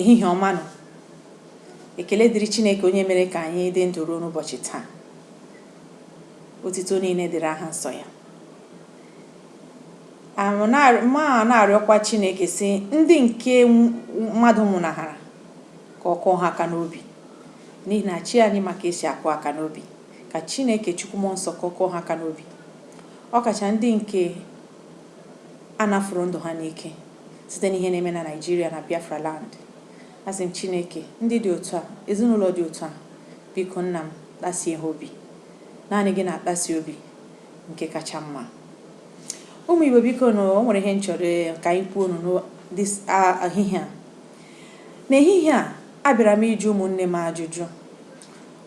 ehihie ọma nụ ekele dịrị Chineke onye mere ka anyị dị ndụ ruo n'ụbọchị taa otito niile dịrị aha nsọ ya ma na-arịọkwa Chineke sị ndị nke mmadụ nwụnahara ka ọ kụọ ha aka n'obi n'ihi na chi anyị ma ka e si akụ aka n'obi ka Chineke Chukwu Mmụọ Nsọ ka ọ kụọ ha aka n'obi ọkacha ndị nke a nafụrụ ndụ ha n'ike site n'ihe na-eme na Naịjirịa na Biafra land. Asị m Chineke, ndị dị otu a, ezinụlọ dị otu a, biko Nna m, kpasie ha obi. Naanị gị na-akpasi obi nke kacha mma. Ụmụ Igbo biko nụ, o nwere ihe m chọrọ ka anyị kwuo nụ n'o- this ah, ehihie a. N'ehihie a, abịara m ịjụ ụmụnne m ajụjụ.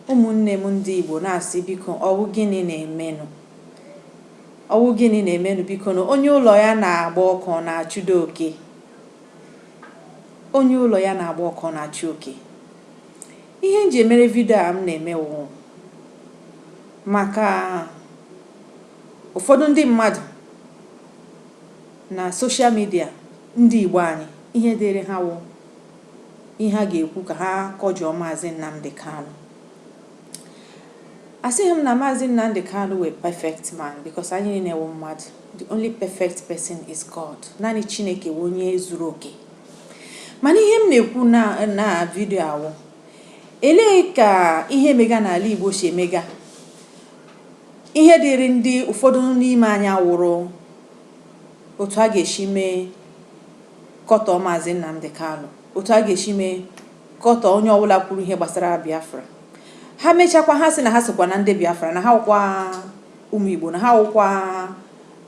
Ụmụnne m ndị Igbo na-asị biko ọ wụ gịnị na-emenụ? Ọ wụ gịnị na-emenụ bikonụ? Onye ụlọ ya na-agba ọkụ ọ na-achụdo oke? Onye ụlọ ya na-agba ọkụ ọ na-achụ oke? Ihe m ji emere vidio a m na-eme wụ maka ụfọdụ ndị mmadụ na social media ndị Igbo anyị ihe dịrị ha wụ ihe ha ga-ekwu ka ha kọjọọ Maazị Nnamdi Kanu. Asịghị m na Maazị Nnamdi Kanu wụ a perfect man because anyị niile wụ mmadụ. The only perfect person is God. Naanị Chineke wụ onye zuru oke. Mana ihe m na-ekwu na vidio a wụ e lee ka ihe mega n'ala Igbo si emega ihe dịrị ndị ụfọdụ n'ime anyị awụrụ otu a ga-esi mee kọtọọ Maazị Nnamdi Kanu otu a ga-esi mee kọtọọ onye ọbụla kwuru ihe gbasara Biafra. Ha mechakwa ha sị na ha sokwa na ndị Biafra, na ha wụkwa ụmụ Igbo, na ha wụkwa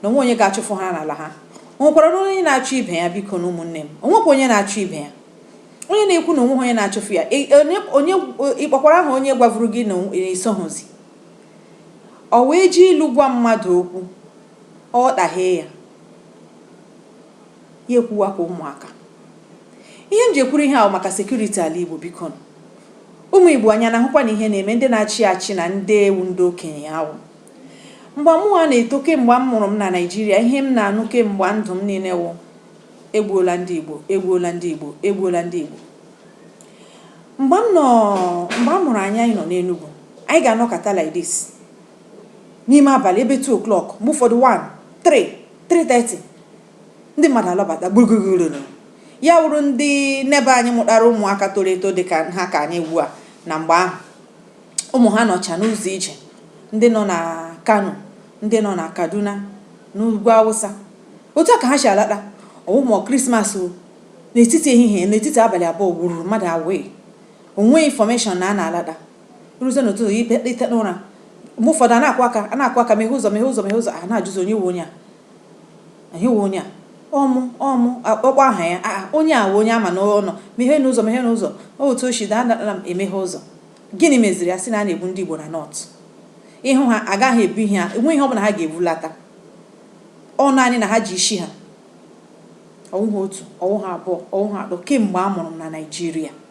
na o nweghị onye ga-achụfụ ha n'ala ha. O nwekwaranụ onye na-achụ ibe ya bikonụ ụmụnne m. O nwekwa onye na-achụ ibe ya. Onye na-ekwu na o nweghị onye na-achụfụ ya. E- onye- onye- Ị kpọkwara aha onye gwavuru gị na o- i soghịzi. Ọ wụ e ji ilu gwa mmadụ okwu, ọ ghọtaghị ya. ya ekwuwa okwu ụmụaka. Ihe m ji ekwuru ihe a wụ maka security ala Igbo bikonụ. Ụmụ Igbo anyị na-ahụkwanụ ihe na-eme ndị na-achị achị na ndị wụ ndị okenye ahụ. Mgba mụwa na-eto kemgba a mụrụ m na Naịjirịa ihe m na-anụ kemgba ndụ m niile wụ egbuola ndị Igbo, egbuola ndị Igbo, egbuola ndị Igbo. Mgbe m nọ mgbe a mụrụ anyị anyị nọ n'Enugu, anyị ga-anọkọta like this. n'ime abalị ebe two o'clock, mgbe ụfọdụ one, three, three thirty, ndị mmadụ alọbata gburugburu. Ya wụrụ ndị n'ebe anyị mụtara ụmụaka toro eto dị ka ha ka anyị ugbu a na mgbe ahụ. Ụmụ ha nọcha n'ụzọ ije, ndị nọ na Kano, ndị nọ na Kaduna, n'ugwu Awụsa. Otu a ka ha si alata. Ọ wụ ma Krismas o, n'etiti ehihie, n'etiti abalị abụọ wururu mmadụ away. O nweghị information na a na-alata. O ruzie n'ụtụtụ, ya ite- iteta ụra. Mgbe ụfọdụ, a na-akụ aka, a na-akụ aka, meghe ụzọ, meghe ụzọ, meghe ụzọ. A na-ajụzi, onye wụ onye a? Onye wụ onye a? Ọ mụ, ọ mụ. A- Ọ kpọọ aha ya, a a, onye a wụ onye a ma na ọ nọ. Megheenụ ụzọ, megheenụ ụzọ. Ọ wụ otu o si daa, adala m emeghe ụzọ. Gịnị meziri? A sị na a na-egbu ndị Igbo na North. Ị hụ ha, a gaghị ebu ihe ha, enweghị ihe ọbụla ha ga-ebulata. Ọ naanị na ha ji isi ha. Ọ wụha otu, ọ wụha abụọ, ọ wụha atọ kemgbe a mụrụ m na Naịjirịa.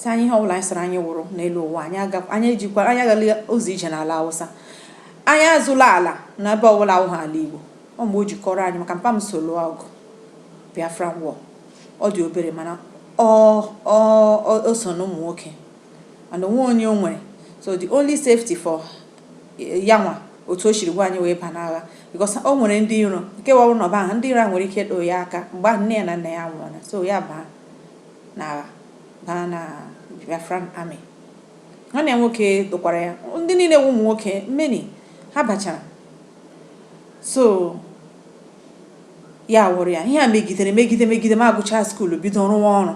sị anyị ihe ọbụla anyị sịrị anyị wụrụ n'elu ụwa anyị agakwa anyị ejikwa anyị agala ụzọ ije n'ala Hausa anyị azụla ala na ebe ọbụla awụghị ala Igbo ọ mgbe o jikọrọ anyị maka mpa m so lụọ ọgụ Biafran War ọ dị obere mana ọ ọ o so na ụmụ nwoke and o nweghị onye o nwere so the only safety for ya nwa otu o siri gwa anyị wee ba n'agha because o nwere ndị iro nke wawụ na ọba ahụ ndị iro a nwere ike ịdụ ya aka mgbe ahụ nne ya na nna ya nwụrụ so ya baa n'agha baa na Biafran Army. Nwanne ya nwoke dụkwara ya. Ndị niile wụ ụmụ nwoke, many, ha bachara. So, ya wụrụ ya. Ihe a megidere megide megide m agụchaa skuulu bido rụwa ọrụ.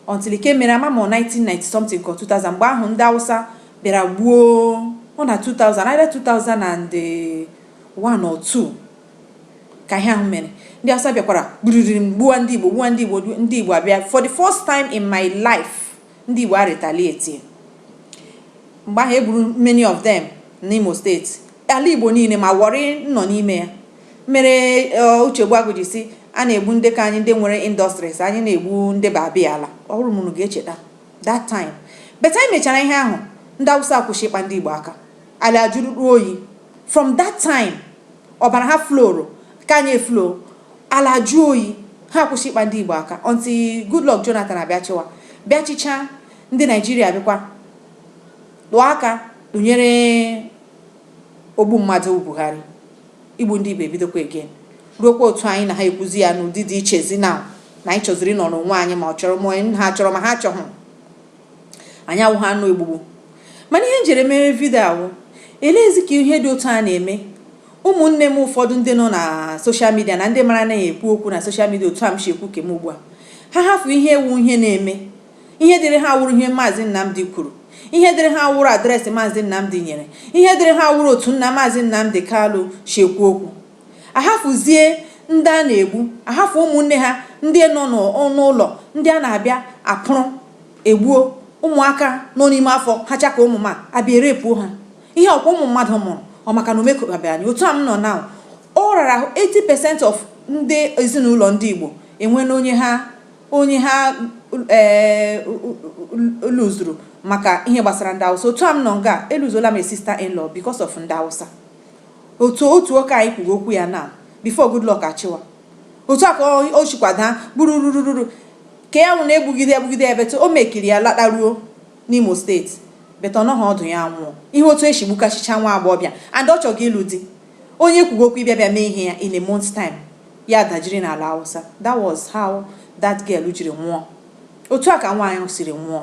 Until nke mere ama m 1990 something ka 2000 mgbe ahụ ndị Awụsa bịara gbuo ọ na 2000 either 2001 or 2 ka ihe ahụ mere ndị Hausa bịakwara gburiri m gbuwa ndị Igbo gbuwa ndị Igbo ndị Igbo abịa for the first time in my life ndị Igbo a retaliate mgbe ahụ e gburu many of them n'Imo steeti ala Igbo niile ma Owerri nọ n'ime ya mere eh, Uche Ogbuagu ji sị a na-egbu ndị ka anyị ndị nwere industries anyị na-egbu ndị babiala ọ wụrụ ma unu ga-echeta that time but anyị mechara ihe ahụ ndị Hausa akwụsị ịkpa ndị Igbo aka Ala ajụrụ oyi. From that time, ọbara ha flowụrụ, nke anyị eflow. Ala ajụọ oyi. Ha akwụsị ịkpa ndị Igbo aka until Goodluck Jonathan abịa chịwa. Bịa chịchaa, ndị Naịjirịa abịakwa tụọ aka tụnyere ogbu mmadụ wụ Buhari. Igbu ndị Igbo ebidokwa again. Ruokwa otu anyị na ha ekwuzi ya n'ụdị dị ichezi now na anyị chọziri ịnọrọ onwe anyị ma ọ chọrọ ma ha chọrọ ma ha achọghị. anyị awụghị anụ egbugbu mana ihe m jiri mere vidio a wụ eleezi ka ihe dị otu a na-eme ụmụnne m ụfọdụ ndị nọ na soshal midia na ndị mara anaghị ekwu okwu na soshal midia otu a m si ekwu ke m ugbu a ha hafụ ihe wụ ihe na-eme ihe dịrị ha wụrụ ihe maazị Nnamdi kwuru ihe dịrị ha wụrụ adreesị maazị Nnamdi nyere ihe dịrị ha wụrụ otu nna maazị Nnamdi Kalụ si ekwu okwu Ahafụzie ndị a na-egbu, ahafụ ụmụnne ha ndị nọ n'ụlọ ndị a na-abịa apụrụ egbuo ụmụaka nọ n'ime afọ ha cha ka ụmụ ma abịa erepuo ha. Ihe ọkwa ụmụ mmadụ mụrụ, ọ maka na o mekọtabeghị anyị. Otu a m nọ now, ọ rara ahụ 80% of ndị ezinụlọ ndị Igbo enweela onye ha onye ha ee luzuru maka ihe gbasara ndị Awụsa. Otu a m nọ nga, eluzola m sister in law because of ndị Awụsa. Otu otu nwoke anyị kwuga okwu ya now before Goodluck achịwa. Otu a ka ọ o sikwa daa gburururururu ka ya nwụrụ egbugide ya gbugide ya but o mekiri ya lataruo n'Imo steeti but ọ nọghị ọdụ ya anwụọ. Ị hụ otu e si gbukasịchaa nwa agbọghọbịa and ọ chọga ịlụ di. Onye kwuga okwu ịbịa bịa mee ihe ya in a month's time, ya adajiri n'ala Hausa. That was how that girl jiri nwụọ. Otu a ka nwaanyị ahụ siri nwụọ.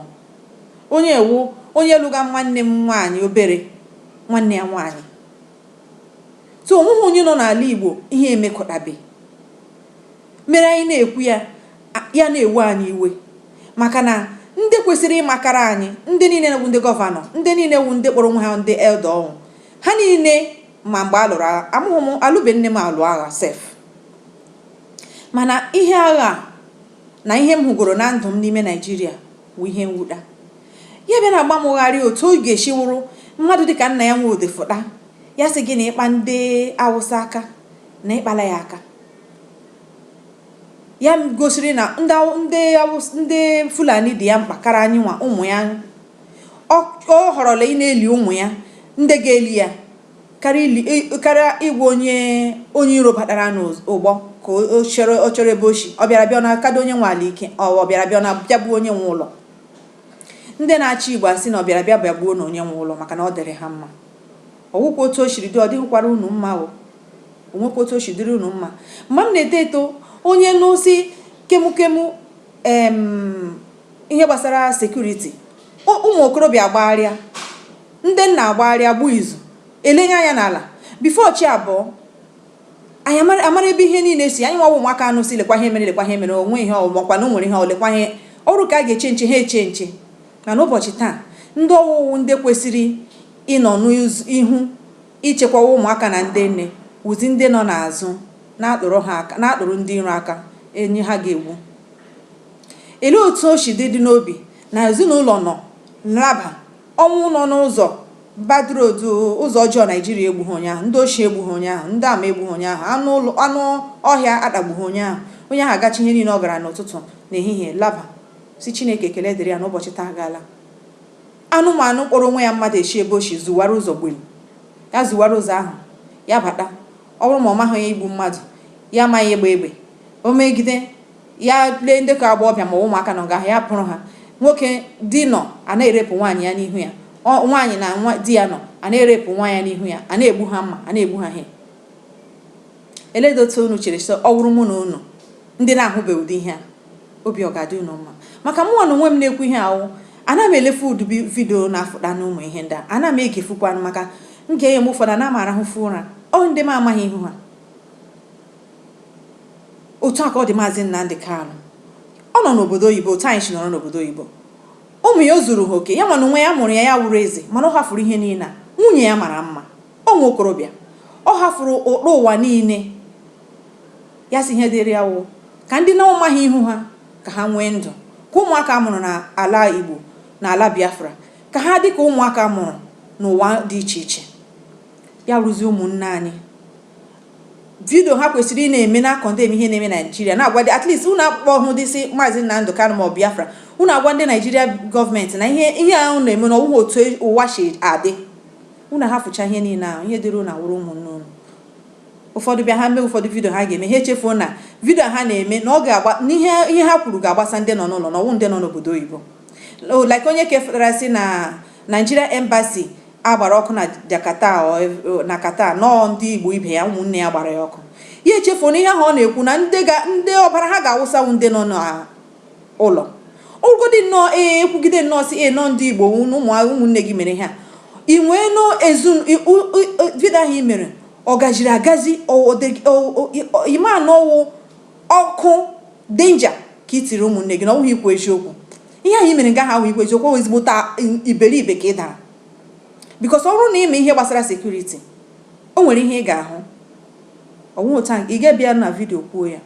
Onye a wụ onye lụga nwanne m nwaanyị obere nwanne ya nwaanyị. So o nweghị onye nọ n'ala Igbo ihe emekọtabeghị mere anyị na-ekwu ya, ya na-ewe anyị iwe maka na ndị kwesịrị ịmakara anyị, ndị niile wụ ndị gọvanọ, ndị niile wụ ndị kpọrọ onwe ha ndị elda ọnwụ, ha niile ma mgbe a lụrụ agha. Amụghị m, alụbe nne m alụ agha sef. Mana ihe agha a na ihe m hụgoro na ndụ m n'ime Naịjirịa wụ ihe mwuta. Ya bịa na-agba m gharịị otu ọ ga-esi wụrụ mmadụ dịka Nnia Nwodo fụta, ya sị gị na ị kpa ndị Awụsa aka na ị kpala ya aka. Ya gosiri na ndị Aw- ndị Awụs- ndị Fulani dị ya mkpa kara anyị nwa ụmụ ya. Ọ ọ họrọla ịna-eli ụmụ ya ndị ga-eli ya. karịa ili e, karịa ịgwa onye onye iro batara n'ụgbọ ka o- ọ chọrọ ọ chọrọ ebe o si ọ bịara bịa ọ na-akado onye nwe ala ike ọ ọ bịara bịa ọ na-abịagbuo onye nwe ụlọ ndị na-achị igbo asị na ọ bịara bịa bịagbuo nụ onye nwe ụlọ maka na ọ dịrị ha mma ọ wụkwa otu o siri dị ọ dịghịkwara unu mma o o nwekwa otu o si dịrị unu mma mgbe m na-eto eto onye n'osi kemukemu em ihe gbasara sekuriti ụmụ okorobịa gbagharịa Ndị nna agbagharịa agba izu, elenye anya n'ala. Before chi abọọ, anyị amara ebe ihe niile si. Anyị nwa wụ ụmụaka anụ si lekwa ihe mere lekwa ihe mere, o nwe ihe ọ makwa na o nwere ihe ọ lekwa ihe ọ wụrụ ka a ga-eche nche ha eche nche. Mana ụbọchị taa, ndị ọ wụ wụ ndị kwesịrị ịnọ n'ihu ichekwa ụmụaka na ndị nne wụzi ndị nọ n'azụ na-akpụrụ ndị iro aka onye ha ga-egbu. Elee otu o si dị dị n'obi na ezinụlọ nọ laba Ọnwụ nọ n'ụzọ. Bad road, ụzọ ọjọọ Naịjirịa egbughị onye ahụ, ndị oshi egbughị onye ahụ, ndị ama egbughị onye ahụ, anụ ọhịa atagbughị onye ahụ. Onye ahụ agacha ihe niile ọ gara n'ụtụtụ, n'ehihie, laba, sị Chineke ekele dịrị ya na ụbọchị taa agaala. Anụmanụ kpọrọ onwe ya mmadụ eshi ebe o shi zuwara ụzọ gbim. Ya zuwara ụzọ ahụ, ya bata. Ọ bụrụ ma ọ maghị ya igbu mmadụ, ya amaghị ịgba egbe. O megide. ya lee ndị ka agbọghọbịa ma ụmụaka nọ nga ya pụrụ ha nwoke di nọ a na-erepụ nwaanyị ya n'ihu ya nwaanyị na di ya nọ a na-erepụ nwa ya n'ihu ya a na-egbu ha mma a na-egbu ha ihe eleedị otu unu chere sị ọ wụrụ mụ na unu ndị na-ahụbe ụdị ihe a obi ọ ga-adị unu mma maka mụnwa n'onwe m na-ekwu ihe ahụ ana m elefu ụdị vidio na-afụta na ụmụ ihe ndị a ana m egefukwanụ maka m ga-enye m ụfọdụ ana m arahụfu ụra ọ ndị m amaghị ihu ha Otu a ka ọ dị Maazị Nnamdi Kanu. Ọ nọ n'obodo oyibo otu anyị si nọrọ n'obodo oyibo. Ụmụ ya o zuru ha oke? Yanwa n'onwe ya a mụrụ ya, ya wụrụ eze mana ọ hafuru ihe niile a. Nwunye ya mara mma. Ọ wụ okorobịa. Ọ hafuru uru ụwa niile. Ya sị ihe dịịrị ya wụ ka ndị na ọ maghị ihu ha ka ha nwee ndụ. Ka ụmụaka a mụrụ n'ala Igbo na ala Biafra ka ha dị ka ụmụaka a mụrụ n'ụwa dị iche iche. Ya wụrụzie ụmụnne anyị. Vidio ha kwesiri ị na-eme na-akọndem ihe na-eme Naịjirịa, na-agwa dị, at least unu akpọhụdị sị Maazị Nnamdi Kanu maọbụ Biafra, unu agwa ndị Naịjirịa gọọmenti na ihe a unu na-eme na ọ wụghị otu ụwa si adị. Unu hafụcha ihe niile ahụ, ihe dịrị unu awụrụ ụmụnne unu. Ụfọdụ bịa ha mee ụfọdụ vidio ha ga-eme, ha echefuo na vidio a ha na-eme na ọ ga-agba na ihe ha kwuru ga-agbasa ndị nọ n'ụlọ na ọ wụ ndị nọ n'obodo oyibo. Like onye ke fụtara sị na Nigeria Embassy a gbara ọkụ na Jakarta na Qatar na ọ ndị Igbo ibe ya ụmụnne ya gbara ya ọkụ ya echefuo na ihe ahụ ọ na-ekwu na ndị ọbara ha ga-awụsa wụ ndị nọ n'ụlọ ụgụdị nnọọ ee ekwugide nnọọ sị ee na ọ ndị Igbo ụmụnne gị mere ha even vidio ahụ i mere ọ gaziri agazi ịma na ọ wụ ọkụ danger ka i tiri ụmụnne gị na ọ wụghị ikwu eziokwu ihe ahụ i mere nga ahụ ikwu eziokwu ọ ezigbote iberibe ka ị dara because ọ bụrụ na ị ma ihe gbasara security o nwere ihe ị ga-ahụ o nweghị otu ị ga-abịa na vidio kwuo ya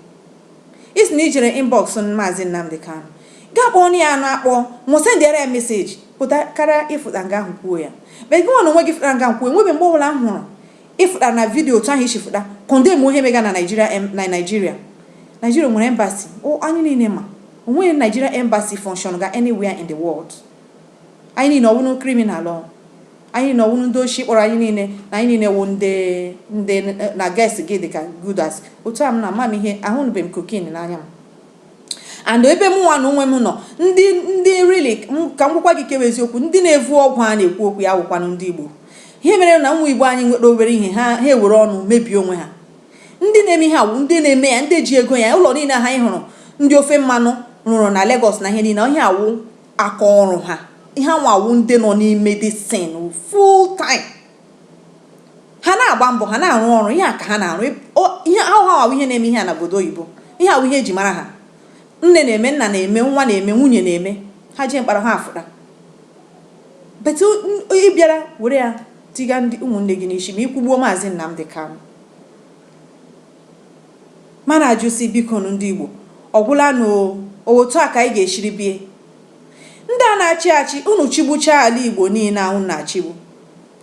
ị sị na i jere inbox maazị Nnamdi Kanu gaa kpọọ ya anụ akpọ ma ọ wụ sendịara ya message pụta karịa ịfụta nga ahụ kwuo ya but gị nwa na onwe gị fụtara nga kwuo enwebe mgbe ọbụla m hụrụ ịfụta na vidio otu ahụ i si fụta condemn ihe mega na Naijiria na Naijiria Naijiria nwere embassy anyị niile ma O nweghị Nigeria embassy function ga anywhere in the world. Anyị niile ọ wụnụ criminal ọ? Anyị niile ọ wụnụ ndị oshi kpọrọ anyị niile na anyị niile wụ ndị ndị na guest gị dị ka good as otu a m na ama m ihe ahụnụbeghị m cocaine n'anya m and ebe mụnwa na onwe m nọ ndị ndị really m- ka m gwakwa gị ke wụ eziokwu ndị na-evu ọgwụ a na-ekwu okwu ya awụkwanụ ndị Igbo ihe mere na ụmụ Igbo anyị nwere obere ihe ha ha ewere ọnụ mebie onwe ha Ndị na-eme ihe a wụ ndị na-eme ya, ndị ji ego ya. Ụlọ niile ha ị hụrụ ndị ofe mmanụ rụrụ na Legọs na ihe niile, ihe a wụ aka ọrụ ha. Ihe a nwa wụ ndị nọ n'ime this thing full time. Ha na-agba mbọ, ha na-arụ ọrụ, ihe a ka ha na-arụ. Ihe ahụ ha awụ ihe na-eme ihe a na obodo oyibo. Ihe a wụ ihe e ji mara ha. Nne na-eme, nna na-eme, nwa na-eme, nwunye na-eme. Ha jee mkpọrọ ha afụta. But ị bịara were ya tiga ndị ụmụnne gị n'isi ma i kwugbuo Maazị Nnamdi Kanu. M ana-ajụ sị bikonu ndị Igbo ọ gwụla nụ o, ọ otu a ka anyị ga-esiri bie? Ndị a na-achị achị, unu chịgbuchaa ala Igbo niile a unu na-achịgbu,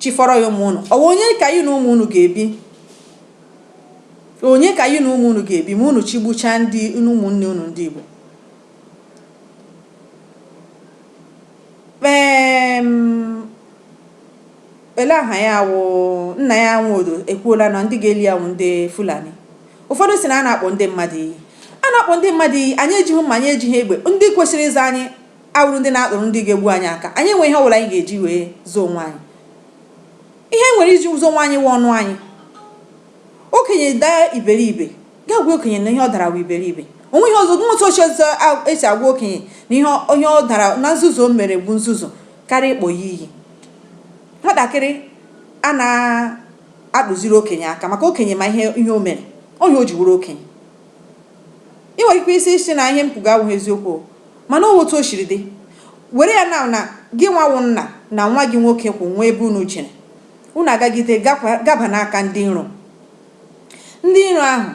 chịfọrọ ya ụmụ unu, ọ wụ onye ka ya na ụmụ unu ga-ebi? Onye ka ya na ụmụ unu ga-ebi ma unu chịgbuchaa ndị ụmụnne unu ndị Igbo? ele aha ya wụ Nnia Nwodo ekwuola na ndị ga-eli ya wụ ndị Fulani ụfọdụ sị na a na-akpọ ndị mmadụ iyi a na-akpọ ndị mmadụ iyi anyị ejighị mma anyị ejighị egbe ndị kwesịrị ịzọ anyị awụrụ ndị na-akụrụ ndị ga-egbu anyị aka anyị enwe ihe ọbụla anyị ga-eji wee zọọ onwe anyị ihe nwere iji zọọ onwe anyị wụ ọnụ anyị Okenye daa iberibe, gaa gwa okenye na ihe ọ dara wụ iberibe. O nweghị ọzọ, o nweghị otu ọzọ e si agwa okenye na ihe ọ, ihe ọ dara, na nzuzu o mere bụ nzuzu karịa ịkpọ ya iyi. Nwatakịrị ana-atụziri okenye aka maka okenye ma ihe, ihe o mere. Ọ ihe o ji wụrụ okenye. I nwere ike ịsị, ịsị na ihe m kwuga awụghị eziokwu o, mana ọ otu o siri dị. Were ya now na gịnwa wụ nna na nwa gị nwoke kwụ nwee ebe unu jere. Unu agagide gaba n'aka ndị iro. Ndị iro ahụ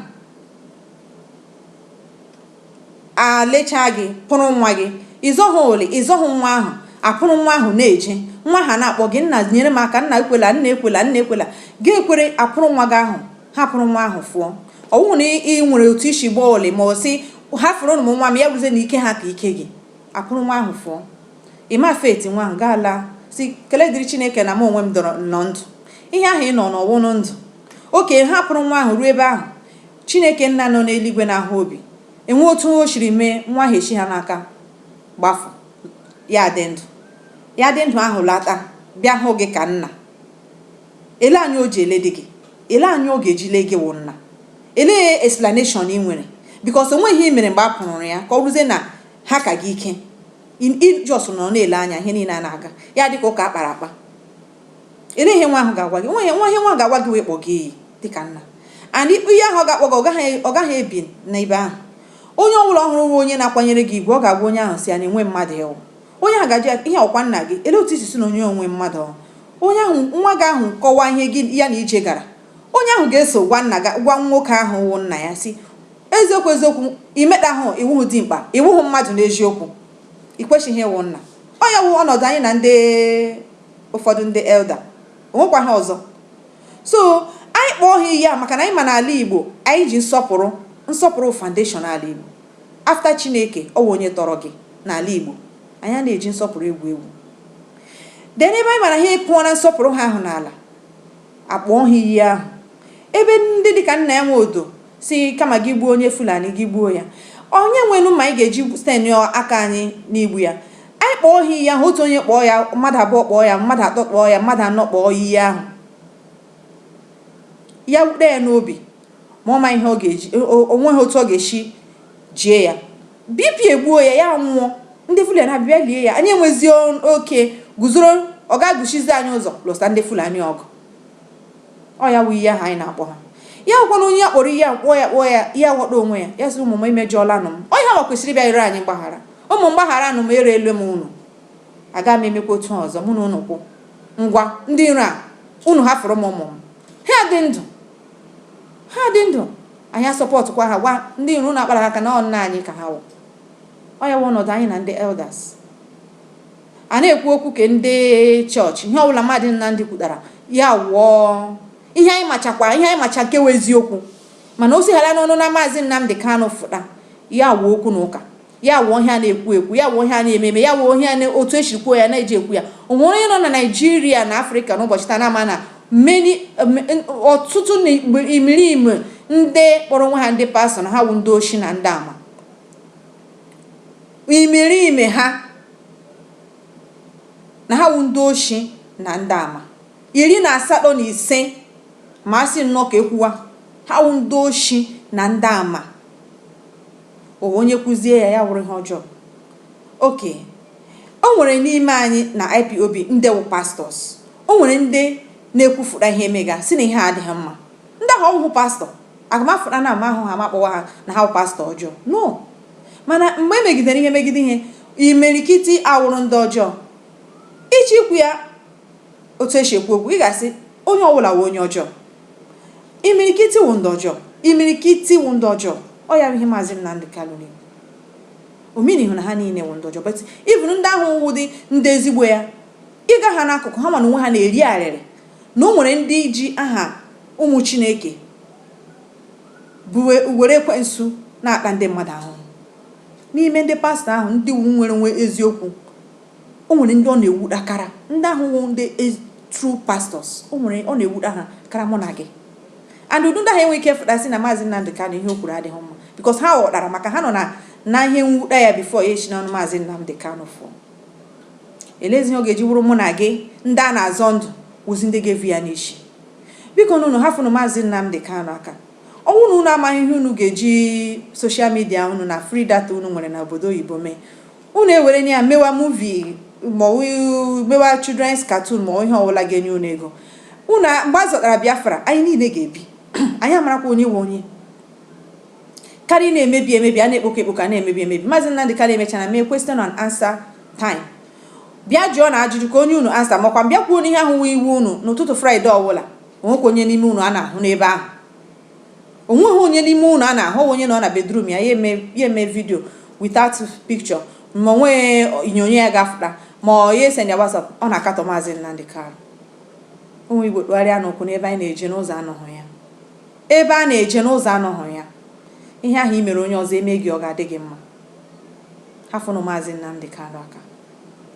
a lechaa gị, pụrụ nwa gị. Ị zọghị ole, ị zọghị nwa ahụ, a pụrụ nwa ahụ na-eje. Nwa ahụ na-akpọ gị, nna nyere m aka, nna ekwela, nna ekwela, nna ekwela. Gị ekwere a pụrụ nwa gị ahụ, ha pụrụ nwa ahụ fụọ. Ọ bụrụ na ị nwere otu i si gbaa ole ma ọ sị hafụrụnụ m nwa m ya bụzie na ike ha ka ike gị, a pụrụ nwa ahụ fụọ. Ị mafete nwanga laa sị, Kele dịrị Chineke na mụ onwe m nọ ndụ. Ihe ahụ ị nọ nọ wụnụ ndụ. Oke, ha pụrụ nwa ahụ ruo ebe ahụ. Chineke Nna nọ n'eluigwe na-ahụ obi. E nwee otu o siri mee, nwa ahụ esi ha n'aka gbafụ. Ya adị ndụ. Ya dị ndụ ahụ lata bịa hụ gị ka nna. Elee anya o ji eledị gị. Elee anya ọ ga-eji lee gị wụ nna. Elee explanation i nwere? Because o nweghị ihe i mere mgbe a pụrụrụ ya ka ọ bụrụzie na ha ka gị ike. I i just nọrọ na-ele anya ihe niile a na-aga, ya dị ka ụka a kpara akpa. Olee ihe nwa ahụ ga-agwa gị? O nweghị nwa ihe nwa ga-agwa gị wee kpọ gị iyi dị ka nna. And i- iyi ahụ ọ ga-akpọ gị, ọ gaghị ọ gaghị ebi n'ebe ahụ. Onye ọ bụla hụrụ nwa onye na-akwanyere gị ugwu, ọ ga-agwa onye ahụ sị ya na enwe mmadụ ị wụ. Onye ahụ ga-ajụ ya, ihe a ọ kwa nna gị? Olee otu i si sị na onye o nwe mmadụ ọ? Onye ahụ nwa gị ahụ kọwaa ihe gị ya na ije gara, onye ahụ ga-eso gwa nna gị gwa nwoke ahụ wụ nna ya sị, Eziokwu eziokwu, i metahụ, ị wụghị dimkpa, ị wụghị mmadụ n'eziokwu. I kwesịghị ịwụ nna. Ọ ya wụ ọnọdụ anyị na ndị ụfọdụ ndị elder. O nwekwaghị ọzọ. So, anyị kpọọ ha iyi a maka na anyị ma n'ala Igbo, anyị ji nsọpụrụ. Nsọpụrụ wụ foundation ala Igbo. After Chineke, ọ wụ onye tọrọ gị n'ala Igbo. Anyị anaghị eji nsọpụrụ egwu egwu. Then ebe anyị ma na ha ekụọla nsọpụrụ ha ahụ n'ala, a kpọọ ha iyi ahụ. Ebe ndị dị ka Nnia Nwodo Sị, Kama gị gbuo onye Fulani, gị gbuo ya. Onye nwenụ mma anyị ga-eji stainịọ aka anyị n'igbu ya? Anyị kpọọ ha iyi ahụ, otu onye kpọọ ya, mmadụ abụọ kpọọ ya, mmadụ atọ kpọọ ya, mmadụ anọ kpọọ iyi ahụ. Ya wute ya n'obi, ma ọ ma ihe ọ ga-eji, o nweghị otu ọ ga-esi jie ya. BP egbuo ya, ya nwụọ. Ndị Fulani abịa lie ya. Anyị enwezie ike guzoro, ọ ga-agụchizi anyị ụzọ lụsa ndị Fulani ọgụ. Ọ ya wụ iyi ahụ anyị na-akpọ ha. Ya wụkwanụ onye a kpọrọ iyi ahụ kpọọ ya kpọọ ya, ya ghọta onwe ya, ya sị, Ụmụ m, emejọọlanụ m. Ọ yanwa kwesịrị ịbịa ịrịọ anyị mgbaghara. Ụmụ m, gbagharanụ m, ereele m unu. Agaghị m emekwa otu a ọzọ, mụ na unu kwụ. Ngwa, ndị iro a, unu hafụrụ m ụmụ m. Ha dị ndụ. Ha dị ndụ. Anyị asupportụkwa ha, gwa ndị iro unu akpara ha aka na ọ nna anyị ka ha wụ. Ọ ya wụ ọnọdụ anyị na ndị elders. A na-ekwu okwu ke ndị chọọchị, ihe ọbụla Maazị Nnamdi kwutara, ya wụọ ihe anyị machakwa, ihe anyị macha nke wụ eziokwu. Mana o sighara n'ọnụ na Maazị Nnamdi Kanu fụta, ya wụọ okwu na ụka, ya wụọ ihe a na-ekwu ekwu, ya wụọ ihe a na-eme eme, ya wụọ ihe a na otu e siri kwuo ya na-eji ekwu ya. O nwere onye nọ na Naịjirịa na Afrịka n'ụbọchị taa na-ama na many ọtụtụ na imerime ndị kpọrọ onwe ha ndị pastọ na ha wụ ndị oshi na ndị ama. imerime ha na ha wụ ndị oshi na ndị ama iri na asatọ na ise ma a sị nnọọ ka ekwuwa ha wụ ndị oshi na ndị ama o nwe onye kwuzie ya ya wụrụ ihe ọjọọ oke o nwere n'ime anyị na ipob ndị wụ pastọs o nwere ndị na-ekwufụta ihe emega sị na ihe a adịghị mma ndị ahụ ọ wụhụ pastọ A ga-amafụta n'ama ahụ ha ma kpọwa ha na ha wụ pastọ ọjọọ. No. Mana mgbe e megidere ihe megide ihe, imirikiti awụrụ ndị ọjọọ. Ị chọọ ikwu ya otu e si ekwu okwu, ị ga-asị onye ọbụla wụ onye ọjọọ. Imirikiti wụ ndị ọjọọ. Imirikiti wụ ndị ọjọọ. Ọ ya bụ ihe Maazị Nnamdi Kanu na-ekwu. O minighị na ha niile wụ ndị ọjọọ but even ndị ahụ wụdị ndị ezigbo ya, ị gaa ha n'akụkụ ha ma n'onwe ha na-eri arịrị na o nwere ndị ji aha ụmụ Chineke wụ were ekwensu na-ata ndị mmadụ ahụhụ. N'ime ndị pastọ ahụ ndị wụ nwere nwe eziokwu, o nwere ndị ọ na-ewuda kara. Ndị ahụ wụ ndị ezi- true pastors, o nwere ọ na-ewuda ha kara mụ na gị. And ụdị ndị ahụ enweghị ike fụta sị na Maazị Nnamdi Kanu ihe o kwuru adịghị mma because ha ghọtara maka ha nọ na na ihe mwuda ya before ya esi n'ọnụ Maazị Nnamdi Kanu fụọ. eleezi ihe ọ ga-eji wụrụ mụ na gị ndị a na-azọ ndụ wụzi ndị ga-evu ya n'isi biko na unu hafụnụ maazị Nnamdi Kanu aka ọ wụ na unu amaghị ihe unu ga-eji social media unu na free data unu nwere na obodo oyibo mee unu ewere ya mewa movie ma mewa children's cartoon ma ihe ọbụla ga-enye unu ego unu mgbe a zọtara Biafra anyị niile ga-ebi anyị amarakwa onye nwe onye Karịa na-emebi emebi, a na-ekpokọ ekpokọ, a na-emebi emebi. Maazị Nnamdi Kanu emechana mee question and answer time. Bịa jụọ ya ajụjụ ka o nye unu answer ma ọkwan bịa kwuo na ihe ahụ wụ iwe unu n'ụtụtụ Friday ọwụla. O nwekwa onye n'ime unu a na-ahụ n'ebe ahụ. O nweghị onye n'ime unu a na-ahụ, ọ wụ onye nọ na bedroom ya, ya eme ya eme video without picture ma o nweghị onyonyo ya ga-afụta ma ọ ya esend ya WhatsApp, ọ na-akatọ Maazị Nnamdi Kanu. Ụmụ Igbo tụgharịanụ ụkwụ na ebe anyị na-eje n'ụzọ anọghị ya. Ebe a na-eje n'ụzọ anọghị ya. Ihe ahụ i mere onye ọzọ, e mee gị ọ ga-adị gị mma? Hafụnụ Maazị Nnamdi Kanu aka.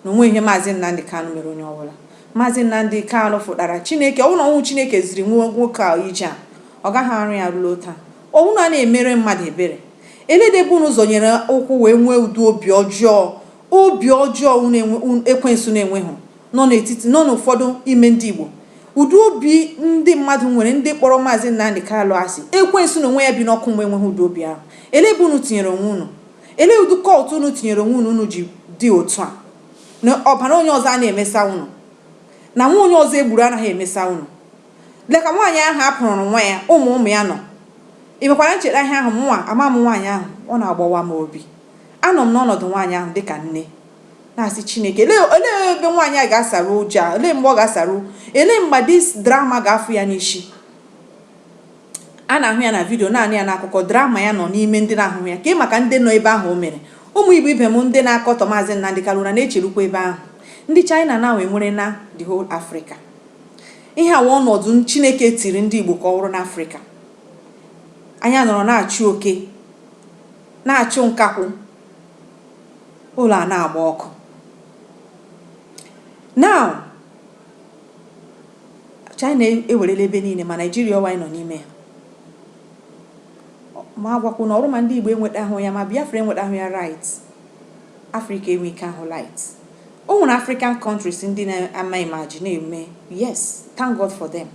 Na o nwe ihe Maazị Nnamdi Kanu mere onye ọbụla. Maazị Nnamdi Kanu fụtara Chineke. Ọ wụ na ọ wụhụ Chineke ziri nwoke a ije a, ọ gaghị arụ ya ruo taa. Ọ wụ na a na-emere mmadụ ebere, elede ebe unu zọnyere ụkwụ wee nwee ụdị obi ọjọọ Obi ọjọọ unu enwe, un, ekwensu na-enweghị nọ n'etiti, nọ n'ụfọdụ ime ndị Igbo. Ụdị obi ndị mmadụ nwere ndị kpọrọ Maazị Nnamdi Kanu asị, ekwensu n'onwe ya bi n'ọkụ mmụọ enweghị ụdị obi ahụ. Elee ebe unu tinyere onwe unu? Elee ụdị cult unu tinyere onwe unu unu ji dị otu a? Na ọbara onye ọzọ anaghị emesa unu? Na nwa onye ọzọ e gburu anaghị emesa unu? Lee ka nwaanyị ahụ a pụrụrụ nwa ya, ụmụ ụmụ ya nọ. I mekwara ncheta ihe ahụ? Mụnwa, amaghị m nwaanyị ahụ. Ọ na-agbawa m obi. Anọ m n'ọnọdụ nwaanyị ahụ dị ka nne, na-asị, Chineke, olee, olee ebe nwaanyị a ga-asaru ụjọ a? Olee mgbe ọ ga-asaru? Olee mgbe this trauma ga-afụ ya n'isi? a na-ahụ ya na vidio na-anụ ya n'akụkọ trauma ya nọ n'ime ndị na-ahụhụ ya ka ị maka ndị nọ ebe ahụ o mere ụmụ Igbo ibe m ndị na-akọtọ maazị Nnamdi Kanu unu na-echerukwa ebe ahụ ndị China ewerela the whole Africa Ihe a wụ ọnọdụ Chineke tiri ndị Igbo ka ọ wụrụ n'Afrịka. Anyị anọrọ na-achụ oke, na-achụ nkakwụ, ụlọ a na-agba ọkụ. Now, China ewerela ebe niile ma Naijiria ọwa anyị nọ n'ime ya. Ma agwakwa unu ọ wụrụ ma ndị Igbo enwetahụ ya ma Biafra enwetahụ ya right, Afrịka enwe ike ahụ light. O nwere African countries ndị na-amanage na-eme yes thank God for them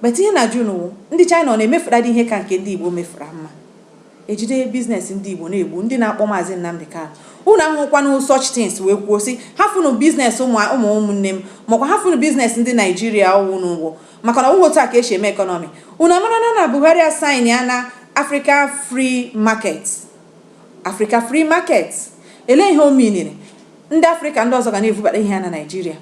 but ihe m na-ajụ unu wụ ndị China ọ na-emefuradi ihe ka nke ndị Igbo mefura mma ejide biznes ndị Igbo na-egbu ndị na-akpọ maazị Nnamdi Kanu unu ahụhụkwana such things wee kwuo sị hafụnụ biznes ụmụ ụmụnne m makwa hafụnụ biznes ndị Naijiria unu na-egbu maka na ọ wụghị otu a ka esi eme ekọnọmi unu amara na na Buhari asainịala Africa Free Market Africa Free Market, elee ihe o miiniri? Ndị Afrịka ndị ọzọ ga na-evubata ihe ha na Naịjirịa.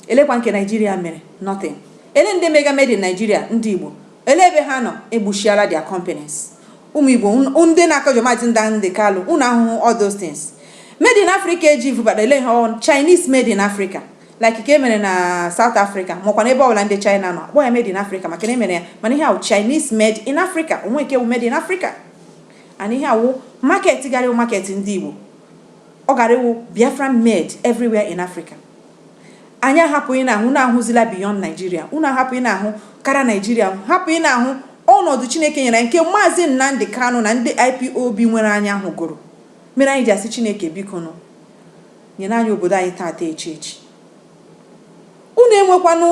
Elekwa nke Naịjirịa mere? Nothing. Ele ndị mega made in Nigeria ndị Igbo? Ele ebe ha nọ? Egbuchiala their companies. Ụmụ Igbo ndị na-akọjọ Maazị Nnamdi Kanu, unu ahụhụ all those things. Made in Africa eji vubata ele ihe ọ wụ Chinese made in Africa like nke e mere na South Africa makwa na ebe ọbụla ndị China nọ akpọ ya made in Africa maka na e mere ya mana ihe a wụ Chinese made in Africa o nwe nke wụ made in Africa and ihe a wụ market gaara ịwụ market ndị Igbo ọ gaara ịwụ Biafra made everywhere in Africa anyị ahapụ ị na-ahụ na-ahụzila beyond Nigeria unu ahapụ ị na-ahụ kara Nigeria hapụ ị na-ahụ ọnọdụ Chineke nyere nke maazị Nnamdi Kanu na ndị IPOB nwere anya ahụ gụrụ mere anyị ji asị Chineke bikonụ nyere anyị obodo anyị taata echi echi Unu enwekwanụ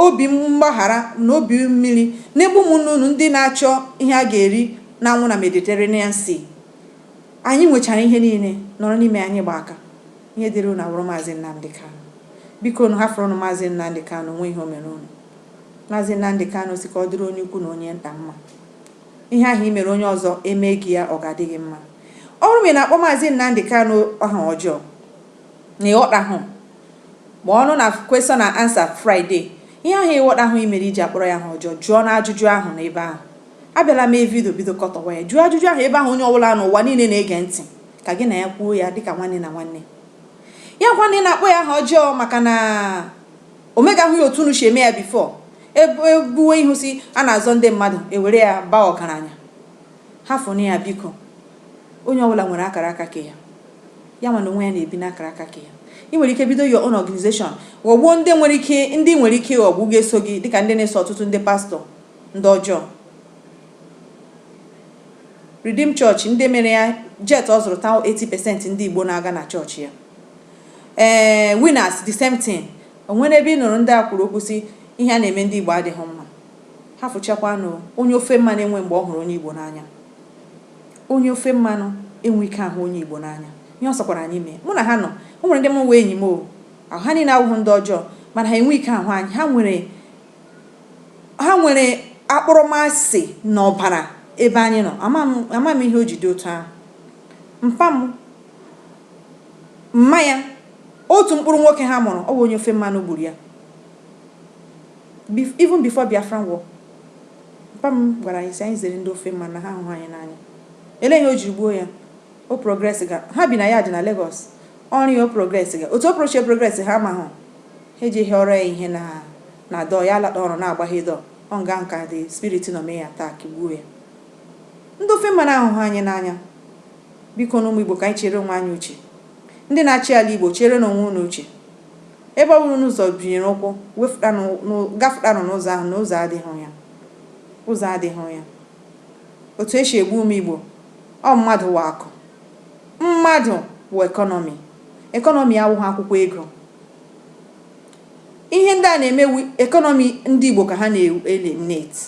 obi mgbaghara na obi mmiri n'ebe ụmụnne unu ndị na-achọ ihe ha ga-eri na-anwụ na Mediterranean Sea. Anyị nwechara ihe niile, nọrọ n'ime ya, anyị gbaa aka. Ihe dịrị unu awụrụ Maazị Nnamdi Kanu. Bikonụ, hafụrụnụ Maazị Nnamdi Kanu, o nweghị ihe o mere unu. Maazị Nnamdi Kanu sị ka ọ dịrị onye ukwu na onye nta mma. Ihe ahụ i mere onye ọzọ, e mee gị ya, ọ ga-adị gị mma. Ọ bụrụ ma ị na-akpọ Maazị Nnamdi Kanu aha ọjọọ, na ị ghọtahụ ma ọ nọ na question and answer Friday ihe ahụ ị ghọtahụ i mere i ji akpọrọ ya aha ọjọọ jụọ ya ajụjụ ahụ na ebe ahụ abịala mee vidio bido kọtọwa ya jụọ ajụjụ ahụ ebe ahụ onye ọbụla n'ụwa niile na-ege ntị ka gị na ya kwuo ya dịka nwanne na nwanne ya gwa na ị na-akpọ ya aha ọjọọ maka na o megahụ ya otu unu si eme ya before e buwe ihu sị a na-azọ ndị mmadụ e were ya baa ọgaranya hafụnụ ya biko onye ọbụla nwere akara aka ke ya Ya nwa na onwe ya na-ebi n'akara aka ke ya. I nwere ike bido your own organization, ghọgbuo ndị nwere ike ndị i nwere ike ịghọgbu ga-eso gị dịka ndị na-eso ọtụtụ ndị pastọ ndị ọjọọ. Redeem Church, ndị mere ya, jet ọ zụrụ taa 80% ndị Igbo na-aga na chọọchị ya. Ee, Winners the same thing. O nwere ebe ị nụrụ ndị a kwuru okwu sị ihe a na-eme ndị Igbo adịghị mma. Hafụchakwanụ onye ofe mmanụ enwe mgbe ọ hụrụ onye Igbo n'anya. Onye ofe mmanụ enwe ike ahụ onye Igbo n'anya. Ihe ọ sọkwara anyị mee. Mụ na ha nọ. O nwere ndị mụ wụ enyi m o. Ahụ ha niile awụghị ndị ọjọọ. Mana ha enwe ike ahụ anyị. Ha nwere ha nwere akpọrọmasị na ọbara ebe anyị nọ. Ama m ama m ihe o ji dị otu ahụ. Mpa m, mma ya, otu mkpụrụ nwoke ha mụrụ, ọ wụ onye ofe mmanụ gburu ya. Even before Biafran war, mpa m gwara anyị sị anyị zere ndị ofe mmanụ na ha ahụghị anyị n'anya. Elee ihe o jiri gbuo ya? O progressiga. Ha bi na yard na Lagos. Ọrụ ya o progressiga. Otu o prochi eprogress ha amaghị. Ha eje hịọrọ ya ihe na na door, ya alata ọrụ na-agbaghe door. Ọ nga ahụ ka the spirit nọ mee ya attack, gbuo ya. Ndị ofe mmanụ ahụghị anyị n'anya. Bikonụ ụmụ Igbo ka anyị cheere onwe anyị uche. Ndị na-achị ala Igbo, cheerenụ onwe unu uche. Ebe ọbụla unu zọbinyere ụkwụ, wefụtanụ n'ụ- gafụtanụ n'ụzọ ahụ na ụzọ adịghị ya. Ụzọ adịghị ya. Otu e si egbu ụmụ Igbo, ọ mmadụ wụ akụ. Mmadụ wụ ekọnọmi. Ekọnọmi awụghị akwụkwọ ego. Ihe ndị a na-eme wụ ekọnọmi ndị Igbo ka ha na-eliminate.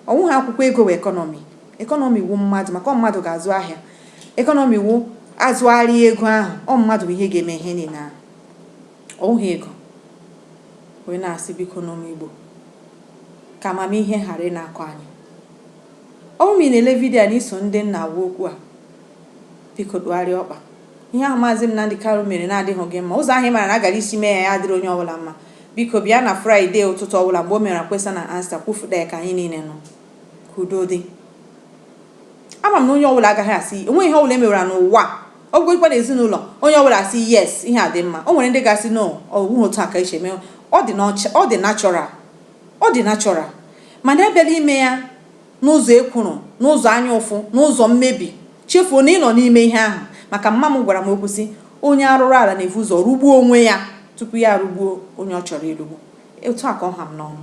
Ọ wụghị akwụkwọ ego wụ ekọnọmi. Ekọnọmi wụ mmadụ maka ọ mmadụ ga-azụ ahịa. Ekọnọmi wụ azụgharịa ego ahụ, ọ mmadụ bụ ihe ga-eme ihe niile ahụ. Ọ wụghị ego. Wee na-asị bikonụ ụmụ Igbo ka amamihe ghara ịna-akọ anyị. Ọ bụrụ ma ị na-ele vidiyo a na i so ndị m na-agwa okwu a, biko tụgharịa ọkpa. Ihe ahụ Maazị Nnamdi Kanu mere na-adịghị gị mma. Ụzọ ahụ ị mara na a gara isi mee ya ya adịrị onye ọbụla mma. Biko bịa na Fraịdee ụtụtụ ọbụla mgbe o mere question and answer kwufụta ya ka anyị niile nụ. Ka udo dị. Ama m na onye ọbụla agaghị asị o nweghị ihe ọbụla e mewere n'ụwa ọ bụgodikwa na ezinụlọ onye ọbụla asị yes ihe a dị mma o nwere ndị ga-asị no ọ bụghị otu a ka eche mee ọ dị natural ọ dị natural mana ebịala ime ya n'ụzọ ekworo, n'ụzọ anya ụfụ, n'ụzọ mmebi, chefuo na ị nọ n'ime ihe ahụ. Maka mma m gwara m okwu sị, Onye arụrụala na-ebu ụzọ rụgbuo onwe ya tupu ya arụgbuo onye ọ chọrọ ịrụgbu. Otu a ka ọ ha m n'ọnụ.